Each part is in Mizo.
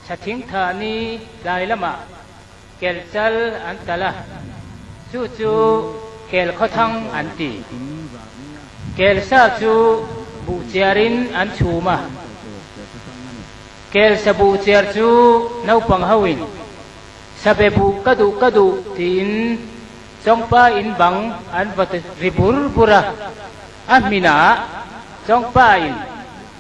Chha thingthahni tlai lamah kel chal an tal a, chu chu kel khawthang an ti. Kel sa chu buh chiar in an chhum a. Kel sa buh chiar chu naupang ho in sabe buh ka duh ka duh tiin chawngpa in bang an va ri bur bur a. A hmin ah chawngpa in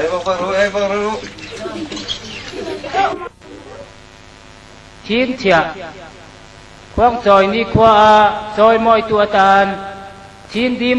Ei bawk rawh lu, ei bawk rawh lu. Thin thiah. Khuang chawini khua a chawi mawitu atan thin dim.